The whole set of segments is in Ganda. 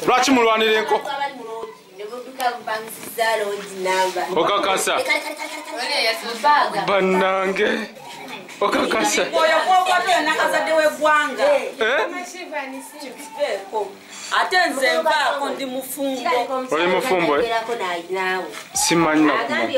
lwaki mulwanira enko okakasa banange okakasa oyo kwokwata oyo nakazadde wegwanga eh? ate nze nvaako ndi mufumbo oli mufumbo eh? simanyi nakumanyi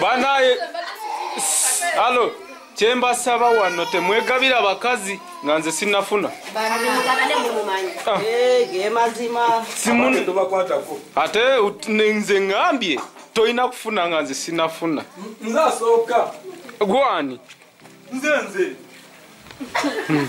Banaye. Allo. kyembasaba wano temwegabira bakazi nga nze sinafuna ah. eh, ate nze ngambye tolina kufuna nga nze sinafuna gwani hmm.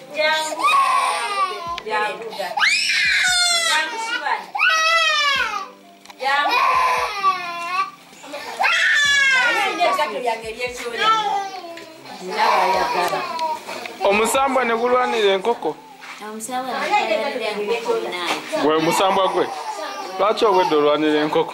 omusambwa ne gulwanira enkoko gwe omusambwa gwe lwaki obwedde olwanira enkoko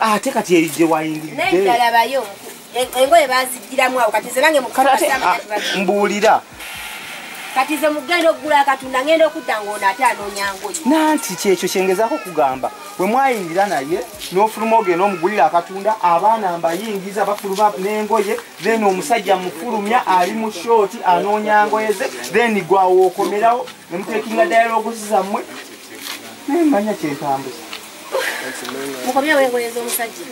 ate ah, kati erijje wayingiriddeyalabayo engoye bazijjiramu awo kati zebange mbuulira kati ze mugenda okugula akatunda ngenda okudda ngaono ate anoonyangoye nanti kyekyo kyengezaako okugamba we mwayingira naye n'ofuluma ogenda omugulira akatunda abaana mbayingiza bafuluma n'engoye then omusajja mufulumya ali mu shooti anoonya ngoye ze then gwawo okomerawo nemutekinga dialogusi zammwe naye manya kyentambuza mukomye weegoyeza omusajja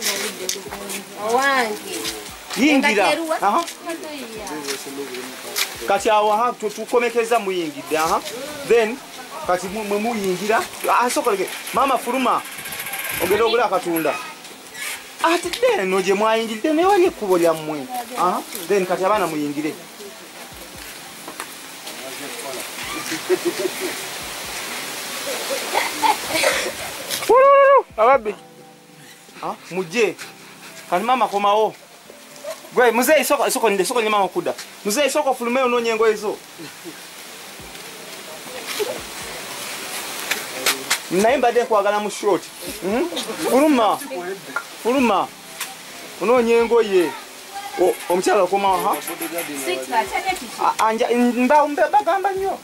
owange yingira kati awo ha tukomekeza muyingidde aha then kati mwe muyingira asokoleke ah, maama fuluma ogenda ogula akatunda ate eno gye mwayingiridde naye wali ekkubo lyammwe then kati abaana muyingire ababbi ah, mujje kati maama komawo gwe muzeeyi sokonde maama kuda muzeeyi soka ofulume onoonya engoye zo naye mbadde nkwagala mu short hmm? fuluma fuluma onoonya engoye omukyala okomawa ha mbagamba nnyo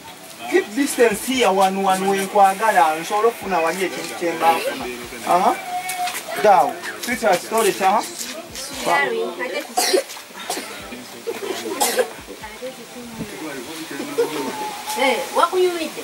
keep distance here wanu wanu wenkwagala nsobola okufuna wali ekintu kyembafuna aha dawo sita kitole kyaha wakuyumidde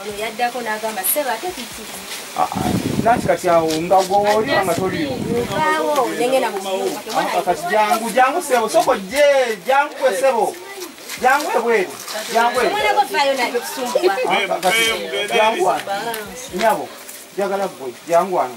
ono yaddako n'agamba ssebo ate kiki ah, ah, nati kati awo nga gwoli nga toliiwaawo nengenda mukati ah, jangu jangu ssebo soko je jangu kwe ssebo jangu ebweru jangu ebweru nyabo njagala gwe jangu wano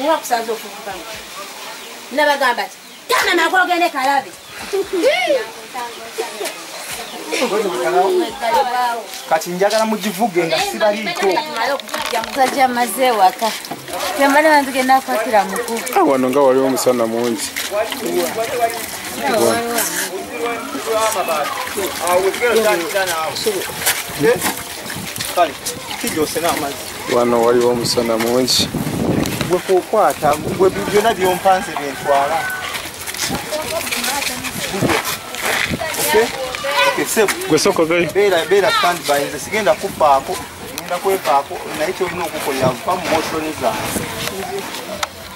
Nga kusaza okuvuga mu. Nabagamba ki? Tana na kwogende kalabe. Kati njagala mugivuge nga sibaliiko. Musajja maze waka. Temana bantu genda kwatira muku. Ah, wano nga waliwo omusana mungi. Kale, kijose n'amazzi. wano waliwo omusana mungi gwe kukwata gwe byona byompanze byentwala gwesokobeera standby nze sigenda kufaako genda kwefaako naye kyolina okukola va mu motooni zange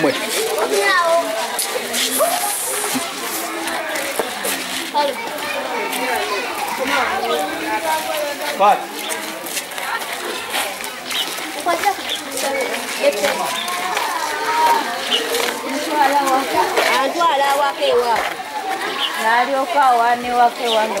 mwe But antwala awaka ewaabwe n'alyoka awaana ewaka ewange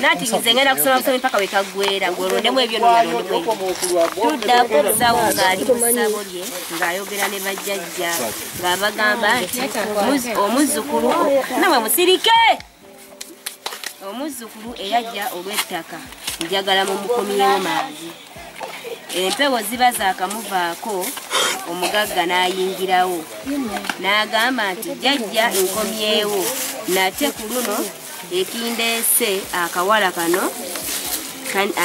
nati nze ngenda kusoma busomi paka wekagwera ngolondemu ebyo nolondemutudda ku musawo ngaali musabo lye ngaayogera ne bajjajja ngaabagamba nti omuzzukulu nawe musirike omuzzukulu eyajja olw'ettaka njagala mu mukomyewo mangi empewo ziba zaakamuvaako omugagga n'ayingirawo n'agamba nti jajja nkomyewo nate ku luno ekindeese akawala kano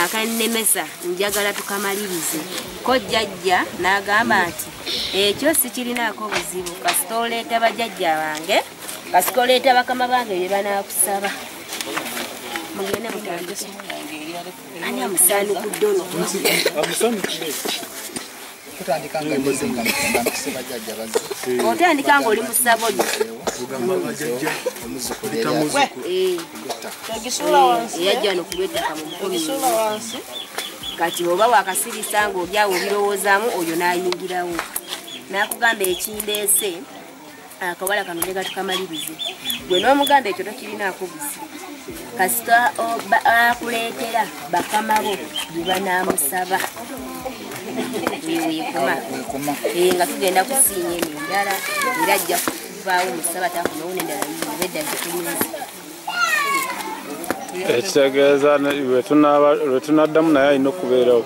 akannemesa njagala tukamalirize ko jajja n'agamba nti ekyo sikirinaako buzibu kasita oleeta bajajja bange kasika oleeta bakama bange bye banaakusaba mugende mutandise ani amusaani ku ddono otandika ngaoli musabo yajja nokubetaka mumukomi kati oba wakasirisa nga olyawo obirowoozamu oyo nayingirawo nakugamba ekindeese akawala kano ne katukamalirize gwe n'omuganda ekyo tokirinaako buzi kasita akuleetera bakama bo bye banaamusaba wewekuma eh, nga tugenda kusiinya eno endala era ajja kuvaawo musaba takunowo nendala yibedda zikulinzi ekitegeeza lwetunaddamu naye alina okubeerawo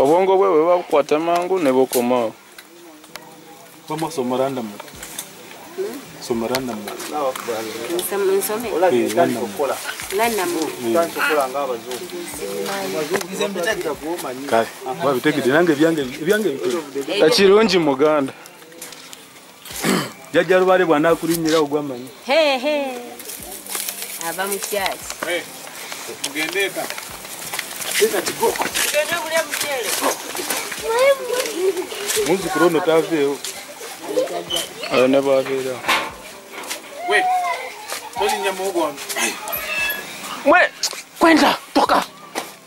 obwongo bwe bwe babukwata mangu ne bukomawo ekirungi muganda jajja lubale bwanakulinyira ogwamanyi ava mukyaki mugendeeka muzukulu ono taveewo ayo ne bwabeera we tolinya muogo wange mwe kwenda toka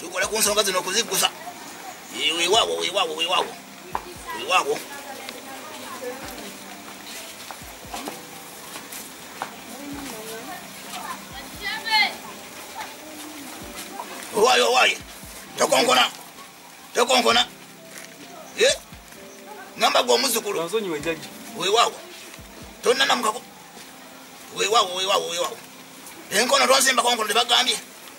tukole ku nsonga zino okuziggusa wewawo wewawo wewawo wewawo owaye owaye tokonkona tokonkona eh? ngamba gwe omuzukulu wewawo tonanamukako wewawo wewawo wewawo enkono tonsimbakonkono tebagambye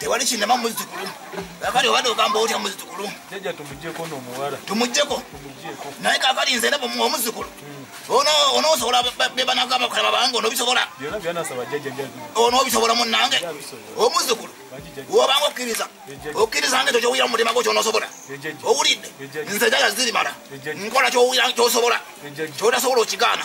tewali kinema muzukulu kakati obadde ogamba otya muzukulu jaja tumujeko nomuwala tumujeko naye kakati nze nebo omuzukulu hmm. onosobola bebanagamba kalaba bange onobisobola onobisobola munange omuzukulu wobanga okkiriza okkiriza nga ekyo kyowulira mu mutima gwo kyonosobola owulidde nze jaja zirimala nkola kyowulira kyosobola kyotasobola okigaana